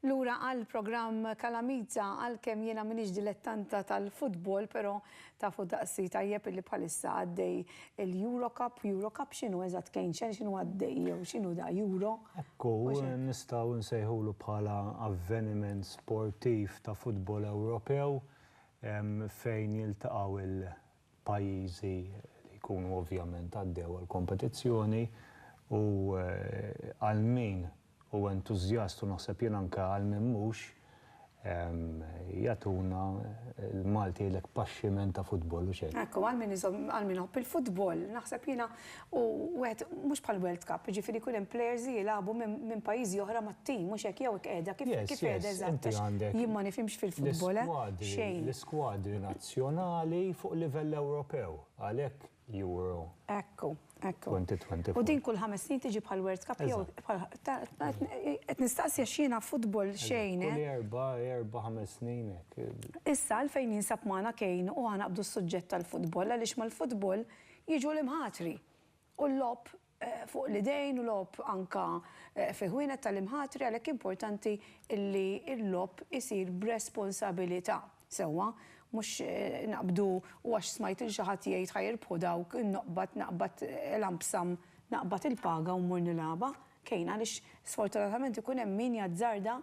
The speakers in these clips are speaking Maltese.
Lura għal programm Kalamita għalkemm jiena m'iniex dilettanta tal-futbol, però Tafu daqsi tajjeb illi bħalissa għaddej il-Euro Cup, Euro Cup x'inhu eżatt Kejnxen x'inhu għaddej jew x'inhu da Euro? Ekku, nistgħu nsejħulu bħala avveniment sportiv ta' futbol Ewropew fejn jiltaqgħu il-pajjiżi li jkunu ovvjament għaddew għall-kompetizzjoni u għal min u entużjast u naħseb jien anke għal min mhux, jagħtuna l-Malti jgħidlek pasciment ta' futbol, hux hekk? Hekk hu, għal min iżomm, għal min iħobb il-futbol, naħseb jiena u wieħed mhux bħal World Cup, jiġifieri jkun hemm players li jilagħbu minn pajjiżi oħra mat-tim, hux hekk, jew qiegħda, kif qiegħda eżatt, għax jien ma nifhimx fil-futbol, eh, xejn. L-iskwadri nazzjonali fuq livell Ewropew, għalhekk Euro. Ekku, ekku. 2024. U din kull ħames snin tiġi bħal World Cup jew bħal qed nistaqsi għax jiena football xejn. Kull erba', erba' ħames snin hekk. Issa għalfejn jinsab magħna Kane u aħna naqbdu s-suġġett tal-football għaliex mal-football jiġu l-imħatri u l-logħob fuq l-idejn u logħob anke fi ħwienet tal-imħatri għalhekk importanti li l-logħob isir b'responsabilità sewwa mhux naqbdu u għax smajt lil xi ħadd jgħid ħa jirbħu dawk noqbad naqbad l-anbsam naqbad il-paga u mmur nilgħabha kejn għaliex sfortunatament ikun hemm min jazzarda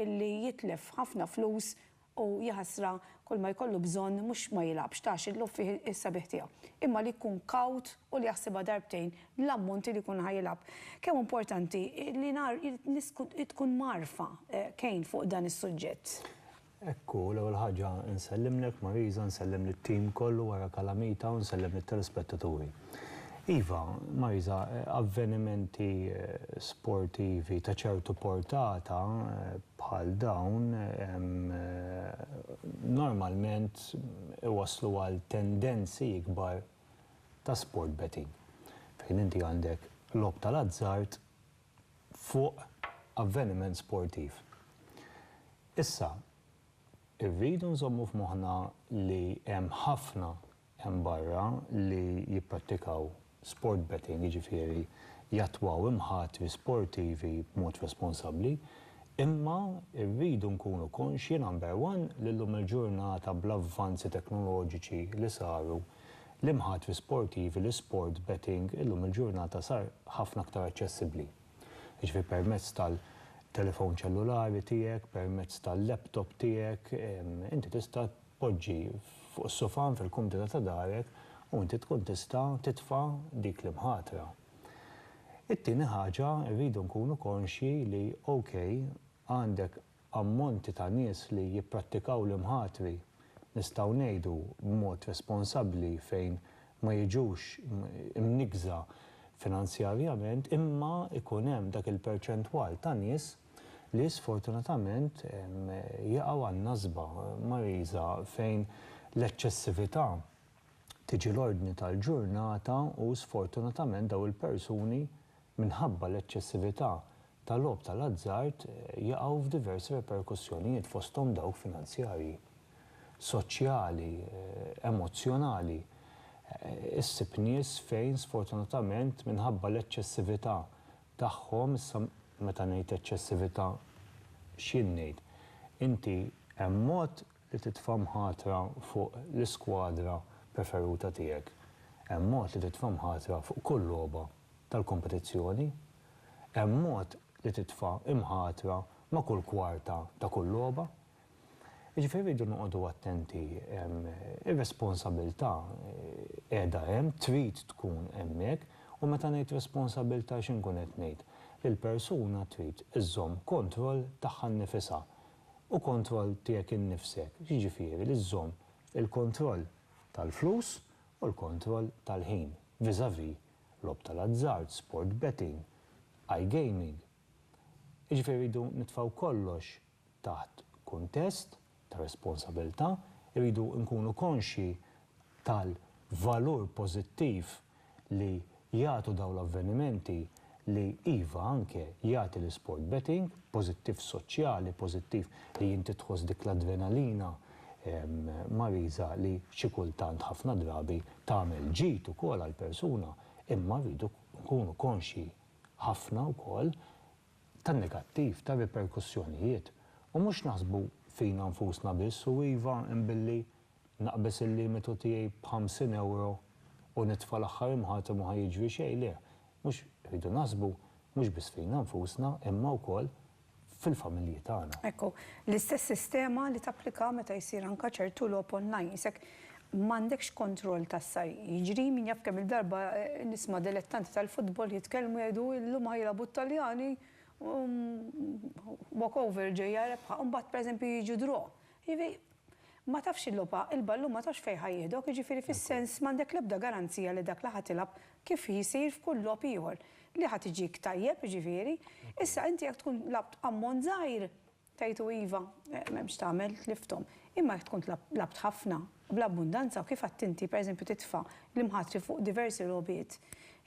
li jitlef ħafna flus U jaħasra, kull ma jkollu bżonn mhux ma jilgħabx, ta għax il-logħob fih is-sabiħ tiegħu, imma li jkun kawt u li jaħsibha darbtejn l-ammonti li jkun ħa jilgħab. Kemm hu importanti li ngħar nies tkun mgħarrfa Kane fuq dan is-suġġett. Hekk hu, l-ewwel ħaġa nsellimlek Marisa, nsellem lit-tim kollu wara Calamita u nsellem lit-telespettaturi. Iva, Myza, avvenimenti sportivi ta' ċertu portata bħal dawn normalment iwasslu għal tendenzi ikbar ta' sport betting, fejn inti għandek logħob tal-azzard fuq avveniment sportiv. Issa, irridu nżommu f'moħħna li hemm ħafna hemm barra li jipprattikaw sport betting, jiġifieri jattwaw imħatri sportivi b'mod responsabbli, imma rridu nkunu konxji, number one, li llum il-ġurnata bl-avvanzi teknoloġiċi li saru, l-imħatri sportivi, l-isport betting illum il-ġurnata sar ħafna aktar aċċessibbli. Jiġifieri permezz tal-telefon ċellulari tiegħek, permezz tal-laptop tiegħek, inti tista' Poġġi fuq is-sufan fil-kumdita ta' darek u inti tkun tista' titfa' dik l-imħatra. It-tieni ħaġa, irridu nkunu konxji li OK, għandek ammonti ta' nies li jipprattikaw l-imħatri, nistgħu ngħidu b'mod responsabbli fejn ma jiġux imnikkża finanzjarjament, imma jkun hemm dak il-perċentwal ta' nies, li sfortunatament jaqgħu għan-nasba mariża fejn l-eċċessività tiġi l-ordni tal-ġurnata u sfortunatament dawn il-persuni minħabba l-eċċessività ta' logħob tal-azzard jaqgħu f'diversi reperkussjonijiet fosthom dawk finanzjarji, soċjali, emozzjonali. Issib nies fejn sfortunatament minħabba l-eċċessività tagħhom, issa meta ngħid eċċessività x'jien ngħid? Inti hemm mod li titfa' mħatra fuq l-iskwadra preferuta tiegħek, hemm mod li titfa' mħatra fuq kull logħba tal-kompetizzjoni, hemm mod li titfa' imħatra ma' kull kwarta ta' kull logħba, Jiġifieri rridu noqogħdu attenti. Ir-responsabilità qiegħda hemm, trid tkun hemmhekk, u meta ngħid responsabilità x'inkun qed ngħid? Li l-persuna trid iżżomm kontroll tagħha nnifisha. U kontroll tiegħek innifsek x'jiġifieri? Li żżomm il-kontroll tal-flus u l-kontroll tal-ħin vis-à-vis logħob tal-azzard, sport betting, iGaming. Jiġifieri rridu nitfgħu kollox Taħt kuntest ta' responsabilità, irridu nkunu konxji tal-valur pożittiv li jagħtu dawn l-avvenimenti li, iva, anke jagħti l-isport betting, pożittiv soċjali, pożittiv li inti tħoss dik l-adrenalina mariża li xi kultant ħafna drabi tagħmel ġid ukoll għall-persuna, imma rridu nkunu konxji ħafna wkoll ta' negattiv, ta' riperkussjonijiet, u mhux naħsbu fina nfusna biss u iva hemm billi naqbeż il-limitu tiegħi b'ħamsin ewro u nitfa' l-aħħar imħatem u ħa jiġri xejn, le, mhux, irridu naħsbu mhux biss fina nfusna imma wkoll fil-familji tagħna. Hekk hu. L-istess sistema li tapplika meta jsir anka ċertu logħob online, jisek M'għandekx kontroll ta' sa jiġri, min jaf kemm-il darba nisma' dilettanti tal-futbol jitkellmu jgħidu illum ħa jilgħabu t-Taljani u walk over ġejja rebħa u mbagħad pereżempju jiġu draw. Jiġifieri ma tafx il-logħba, il-ballun ma tafx fejn ħa jieħdok, jiġifieri fis-sens m'għandek l-ebda garanzija li dak li ħa tilgħab kif jsir f'kull logħob ieħor, li ħa tiġik tajjeb jiġifieri. Issa inti jekk tkun lgħabt ammont żgħir, Tgħidu iva, m'hemmx tagħmel, tlifthom. Imma jekk tkun labt ħafna, bl-abbundanza u kif għedt inti, pereżempju titfa' l-imħatri fuq diversi logħbiet,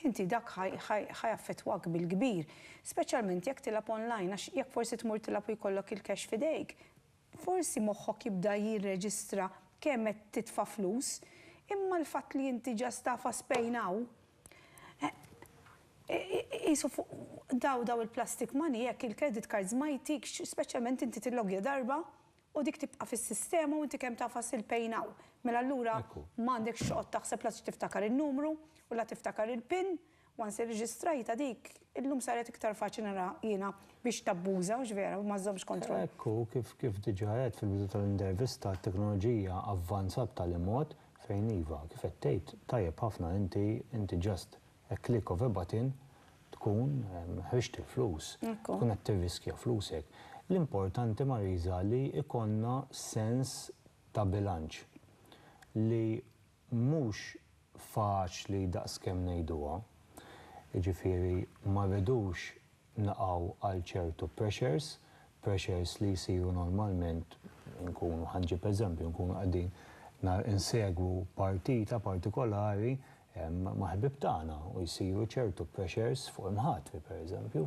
inti dak ħa jaffettwak bil-kbir. Speċjalment jekk tilgħab online għax jekk forsi tmur tilgħab u jkollok il-cash f'idejk, forsi moħħok jibda jirreġistra kemm qed titfa' flus. Imma l-fatt li inti ġast tagħfas pain hawn, Qisu fuq daw daw il-plastic money jekk il-credit cards ma jtikx, speċjalment inti tillogja darba u dik tibqa' fis-sistema u inti kemm tagħfas il-pay now. Mela allura ma għandekx toqgħod taħseb la tiftakar in-numru u la tiftakar il-pin, once irreġistrajtha dik, illum saret iktar faċli nara jiena biex tabbuża, mhux vera, u ma żżommx kontroll. Hekk hu, kif diġà għedt fil-bidu tal-intervista, t-teknoloġija avvanzat b'tali mod Fejn iva, kif qed tgħid tajjeb ħafna inti, inti just a click of a button tkun ħriġt il-flus, tkun qed tirriskja flusek. L-importanti Mariża li jkollna sens ta' bilanċ li mhux faċli daqskemm ngħiduha, jiġifieri ma rridux naqgħu għal ċertu pressures, pressures li jsiru normalment, inkunu, ħa nġib eżempju, inkunu qegħdin insegwu partita partikolari ma' ħbieb tagħna u jsiru ċertu pressures fuq imħatri, pereżempju,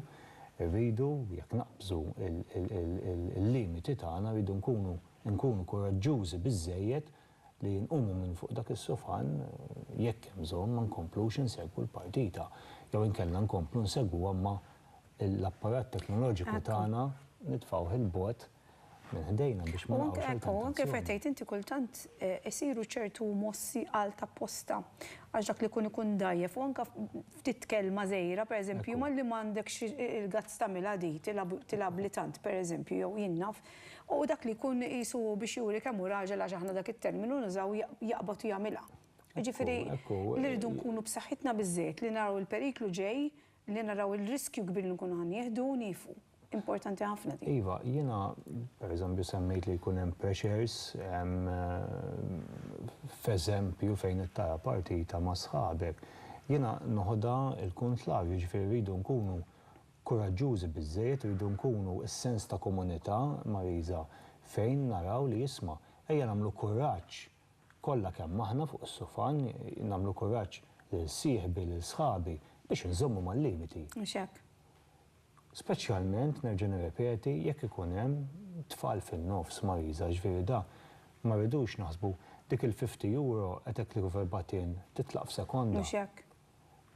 irridu, jekk naqbżu l-limiti tagħna, rridu nkunu, inkunu kuraġġużi biżżejjed li nqumu minn fuq dak is-sufan, jekk hemm bżonn, ma nkomplux insegwu l-partita, jew inkella nkomplu nsegwuha imma l-apparat teknoloġiku tagħna nitfgħuh 'il bogħod minn ħdejna biex ma naqgħux għal tentazzjoni. U anke fejn tgħid inti kultant isiru ċertu mossi għal tapposta għax dak li jkun ikun dgħajjef u anke ftit kelma żgħira, pereżempju, malli m'għandekx il-guts tagħmilha di, tilgħabli tant, pereżempju, jew jien naf. U dak li jkun qisu biex juri kemm hu raġel għax aħna dak it-terminu nużaw jaqbad u jagħmilha. Jiġifieri li rridu nkunu b'saħħitna biżżejjed li naraw il-periklu ġej, li naraw il-riskju kbir li nkunu ħa nieħdu u nieqfu. Importanti ħafna din. Iva, jiena pereżempju semmejt li jkun hemm pressures f'eżempju fejn qed tara partita ma' sħabek. Jiena noħodha l-kuntrav, jiġifieri rridu nkunu Kuraġġużi biżżejjed irridu nkunu s-sens ta' komunità Marisa fejn naraw li isma', ejja nagħmlu kuraġġ kollha kemm aħna fuq is-sufan, nagħmlu kuraġġ lil sieħbi, lil sħabi biex inżommu mal-limiti. Mhux hekk? Speċjalment, nerġa' nirrepeti, jekk ikun hemm tfal fin-nofs, Marisa, jiġifieri da ma rridux naħsbu, dik il-fifty euro qed hekk li kif erbat in, titlaq f'sekonda. Mhux hekk?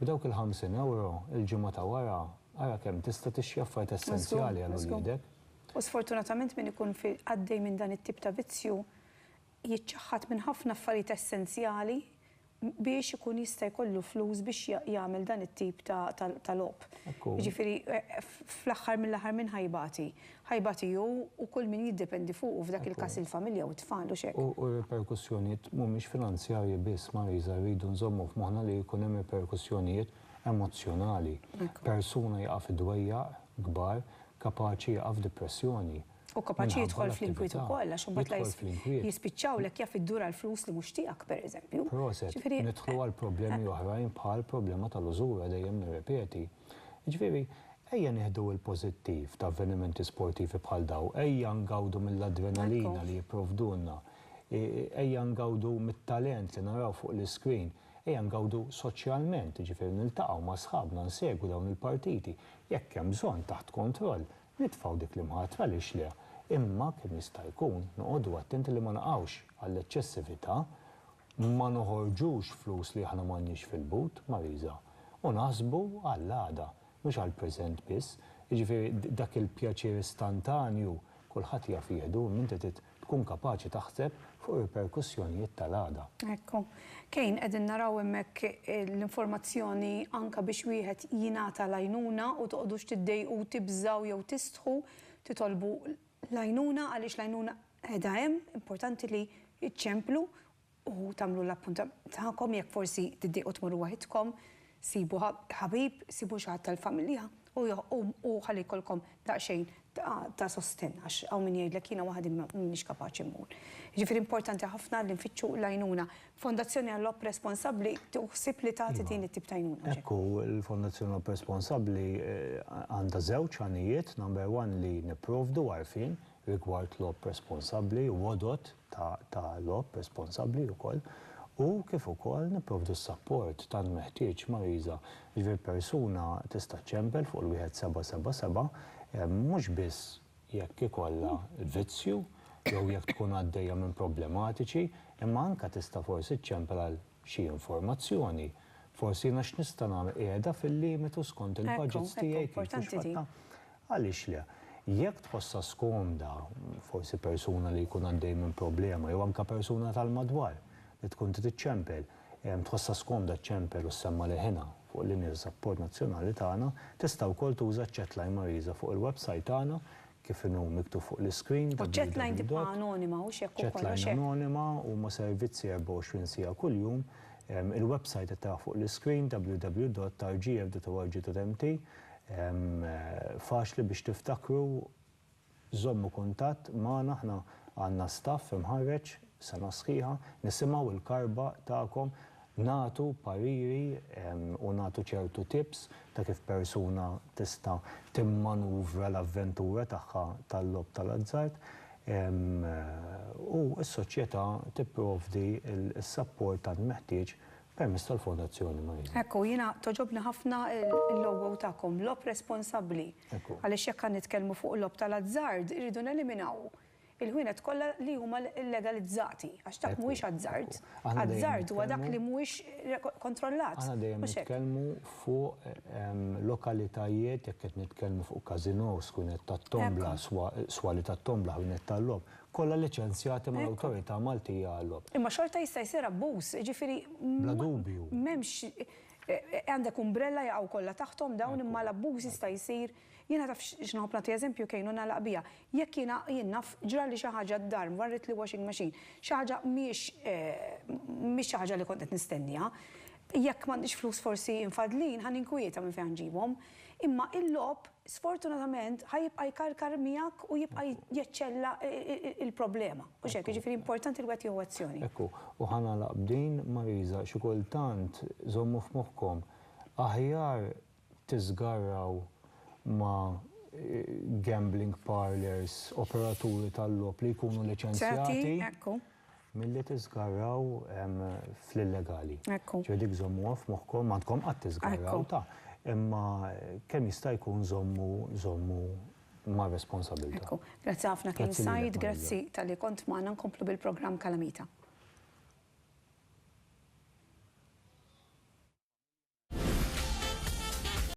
B'dawk il-ħamsin ewro, il-ġimgħa ta' wara, ara kemm tista' tixtri affarijiet essenzjali għal uliedek. U sfortunatament min ikun għaddej minn dan it-tip ta' vizzju jiċċaħħad minn ħafna affarijiet essenzjali biex ikun jista' jkollu flus biex jagħmel dan it-tip ta' logħob. Jiġifieri fl-aħħar mill-aħħar min ħa jbati? ħajba tiegħu u kull min jiddependi fuqu, f'dak il-każ il-familja u t-tfal, u x'hekk. U r-riperkussjonijiet mhumiex finanzjarji biss, Marisa, rridu nżommu f'moħħna li jkun hemm riperkussjonijiet emozzjonali. Persuna jaqa' fi dwejjaq kbar kapaċi jaqa' f'dipressjoni. U kapaċi jidħol fl-inkwiet ukoll, għax imbagħad la jispiċċawlek jaf iddur għal flus li mhux tiegħek, pereżempju. Proset, nidħlu għal problemi oħrajn bħall-problema tal-użura, dejjem nirrepeti. Jiġifieri, ejja nieħdu l-pożittiv ta' avvenimenti sportivi bħal dawn, ejja ngawdu mill-adrenalina li jipprovdulna, ejja ngawdu mit-talent li naraw fuq l-iscreen, ejja ngawdu soċjalment, jiġifieri niltaqgħu ma' sħabna, nsegwu dawn il-partiti, jekk hemm bżonn taħt kontroll, nitfgħu dik l-imħatra għaliex le, imma kemm jista' jkun noqogħdu attenti li ma naqgħux għall-eċċessività, ma noħorġux flus li aħna m'għandniex fil-but, Marisa. u naħsbu għall-għada, mhux għall-preżent biss. Jiġifieri dak il-pjaċir istantanju kulħadd jaf jieħdu, imma inti trid tkun kapaċi taħseb fuq ir-riperkussjonijiet tal-għada. Ekku. Kane, qegħdin naraw hemmhekk l-informazzjoni anke biex wieħed jingħata l-għajnuna u toqgħodux tiddejqu, tibżgħu jew tistħu titolbu l-għajnuna għaliex l-għajnuna qiegħda hemm, importanti li iċċemplu u tagħmlu l-appuntament tagħkom, jekk forsi tiddiequ tmorru waħidkom, sibu ħabib, sibu xi ħadd tal-familja u u ħalli jkollkom daqsxejn ta' ta' sostenn għax hawn min jgħidlek jiena waħdi m'iniex kapaċi mmur. Jiġifieri importanti ħafna li nfittxu l-għajnuna. Fondazzjoni għall-Opp Responsabbli tieħu ħsieb li tagħti din it-tip ta' għajnuna. Hekk hu, l-Fondazzjoni Opp Responsabbli għandha żewġ għanijiet, number one li nipprovdu għarfien rigward l-Opp Responsabbli u għodod ta' logħob responsabbli wkoll u kif ukoll nipprovdu s-sapport tant meħtieġ mariża, jiġifieri persuna tista' ċċempel fuq il-wieħed seba' seba' seba' mhux biss jekk ikollha vizzju jew jekk tkun għaddejja minn problematiċi imma anke tista' forsi ċċempel għal xi informazzjoni, forsi jiena x'nista' nagħmel qiegħda fil-limitu skont il-budgets tiegħi kif u x'fatt. Għaliex le? Jekk tħossha skomda, forsi persuna li jkun għaddej minn problema jew anke persuna tal-madwar li tkun trid iċċempel, tħossha skomda ċċempel u ssemma' leħinha fuq l-linja ta' sapport nazzjonali tagħna, tista' wkoll tuża ċ-chatline Marisa fuq il-websajt tagħna, kif inhu miktub fuq l-iscreen, www. U ċ-chatline tibqa' anonima, hux hekk ukoll, hux hekk? Chatline anonima, huma servizzi 24 siegħa kuljum. Il-websajt qed taraħ fuq l-iscreen, www.rgf.org.mt. Faċli biex tiftakru, żommu kuntatt magħna aħna għandna staff imħarreġ sena sħiħa, nisimgħu l-karba tagħkom, nagħtu pariri u nagħtu ċertu tips ta' kif persuna tista' timmanuvra l-avventura tagħha tal-logħob tal-azzard u s-soċjetà tipprovdi s-sapport tant meħtieġ Permess tal-Fondazzjoni Marija. Hekk hu, jiena togħġobni ħafna l-logo tagħkom, logħob responsabbli. Hekk hu. Għaliex jekk qed nitkellmu fuq logħob tal-azzard, irridu neliminaw il-ħwienet kollha li huma llegalizzati, għax dak mhuwiex azzard. Azzard huwa dak li mhuwiex kontrollat. Aħna dejjem nitkellmu fuq lokalitajiet, jekk qed nitkellmu fuq każinòs, ħwienet tat-tombla, swali tat-tombla, ħwienet tal-logħob, Kollha liċenzjati mal-Awtorità Maltija għal-Logħob. Imma xorta jista' jsir abbuż, jiġifieri m'hemmx għandek umbrella jaqgħu kollha taħthom dawn imma l-abbuż jista' jsir. Jiena taf x'nħobb nagħti eżempju kejn u nagħlaq biha. Jekk jiena jien naf ġrali xi ħaġa d-dar, mvarrit l-washing machine, xi ħaġa mhijiex mhix xi ħaġa li kont qed nistenniha, jekk m'għandix flus forsi mfaddlin ħa ninkwieta minn fejn ħa nġibhom. Imma l-logħob sfortunatament ħa jibqa' jkarkar miegħek u jibqa' jeċċella l-problema. Hux hekk? Jiġifieri importanti li wieħed jieħu azzjoni. Ekku, u ħa nagħlaq b'din, Marisa, xi kultant żommu f'moħħkom, aħjar tiżgarraw ma' gambling parlours, operaturi tal-logħob li jkunu liċenzjati, Milli tiżgarraw fl-illegali. Ekku. Ġifieri dik żommuha f'moħħkom, m'għandkom qatt tiżgarraw ta', imma kemm jista' jkun żommu, żommu mar-responsabilità. Ekku. Grazzi ħafna kien Said, grazzi talli kont magħna nkomplu bil-programm Kalamita.